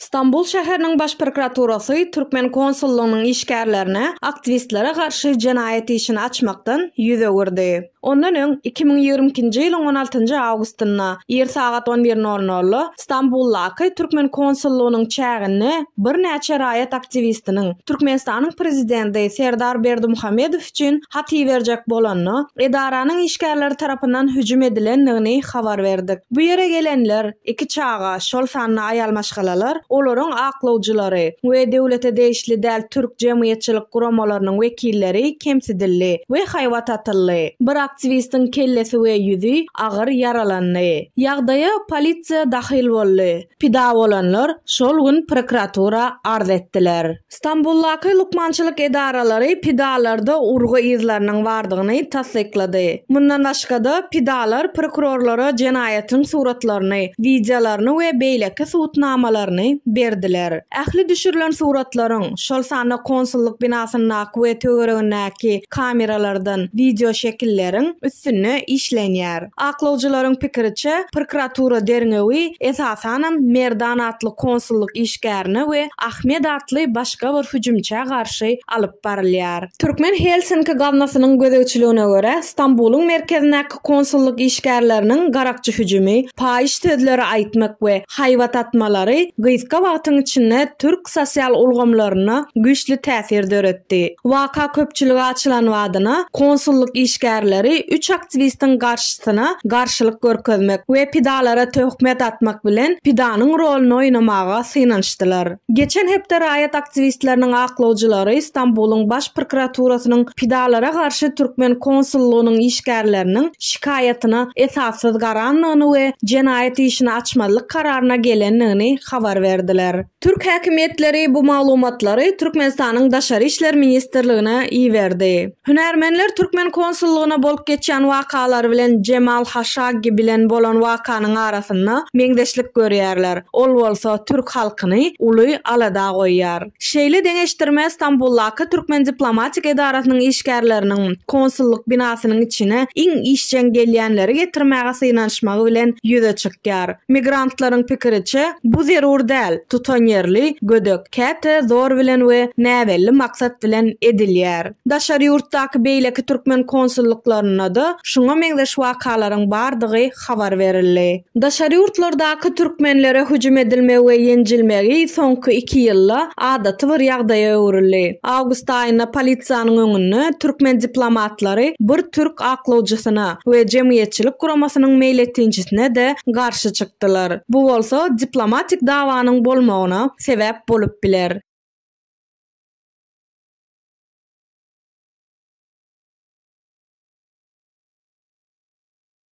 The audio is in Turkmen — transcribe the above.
Stambul şäheriniň Baş prokuraturasy türkmen konsullygynyň işgärlerine aktiwistlere garşy jenaýat işini açmakdan ýüz öwürdi. Ondan öň, iki müň ýigrimi ikinji ýylyň on altynjy awgustynda ir sagat on bir nol nolda Stambuldaky türkmen konsullygynyň çäginde birnäçe raýat aktiwistiniň Türkmenistanyň Prezidenti Serdar Berdimuhamedow üçin hat iberjek bolanda, edaranyň işgärleri tarapyndan hüjüm edilendigini habar berdik. Bu ýere gelenler, iki çaga, şol sanda aýal maşgalalar, olaryň aklawjylary we döwlete degişli däl türk jemgyýetçilik guramalarynyň wekilleri kemsidildi we haýbat atyldy. Bir aktiwistiň kellesi we ýüzi agyr ýaralandy. Ýagdaýa polisiýa dahyl boldy. Pida bolanlar şol gün prokuratura arz etdiler. Stambuldaky lukmançylyk edaralary pidalarda urgy yzlarynyň bardygyny tassyklady. Mundan başga-da, pidalar prokurorlara jenaýatyň suratlaryny, wideolaryny we beýleki subutnamalaryny berdiler. Ähli düşürilen suratlaryň, şol sanda konsullyk binasyndaky we töweregindäki kameralardan wideoşekilleriň üstünde işlenýär. Aklawjylaryň pikiriçe, prokuratura derňewi, esasanam, Merdan atly konsullyk işgärine we Ahmet atly başga bir hüjümçä garşy alyp barylýar. Türkmen Helsinki gaznasynyň gözegçiligine görä, Stambulyň merkezindäki konsullyk işgärleriniň garakçy hüjümi, paýyş sözleri aýtmak we haýbat atmalary gysga wagtyň içinde türk ähli sosial ulgamlaryna güýçli täsir döretdi. Waka köpçülige açylan badyna, konsullyk işgärleri üç aktiwistiň garşysyna garşylyk görkezmek we pidalara töhmet atmak bilen pidanyň roluny oýnamaga synanyşdylar. Geçen hepde raýat aktiwistleriniň aklawjylary Stambulyň Baş prokuraturasynyň pidalara garşy türkmen konsullygynyň işgärleriniň şikaýatyna esassyz garandygyny we jenaýat işini açmazlyk kararyna gelendigini habar berdiler. Türk häkimiýetleri bu maglumatlary Türkmenistanyň Daşary işler ministrligine iberdi. Hünärmenler türkmen konsullygyna bolup geçýän wakalar bilen Jemal Haşaggi bilen bolan wakanyň arasynda meňzeşlik görýärler, ol bolsa türk halkyny uly alada goýýar. Şeýle deňeşdirme Stambuldaky türkmen diplomatik edarasynyň işgärleriniň konsullyk binasynyň içine iň işjeň gelýänleri getirmäge synanyşmagy bilen ýüze çykýar. Migrantlaryň pikiriçe, bu zerur däl, tutanýerli, gödek, käte zor bilen we näbelli maksat bilen edilýär. Daşary ýurtdaky beýleki türkmen konsullyklarynda-da şuňa meňzeş wakalaryň bardygy habar berildi. Daşary ýurtlardaky türkmenlere hüjüm edilmegi we ýenjilmegi soňky iki ýylda adaty bir ýagdaýa öwrüldi. Awgust aýynda polisiýanyň öňünde türkmen diplomatlary bir türk aklawjysyna we jemgyýetçilik guramasynyň meýletinçisine-de garşy çykdylar. Bu bolsa diplomatik dawanyň bolmagyna sebäp bolup biler.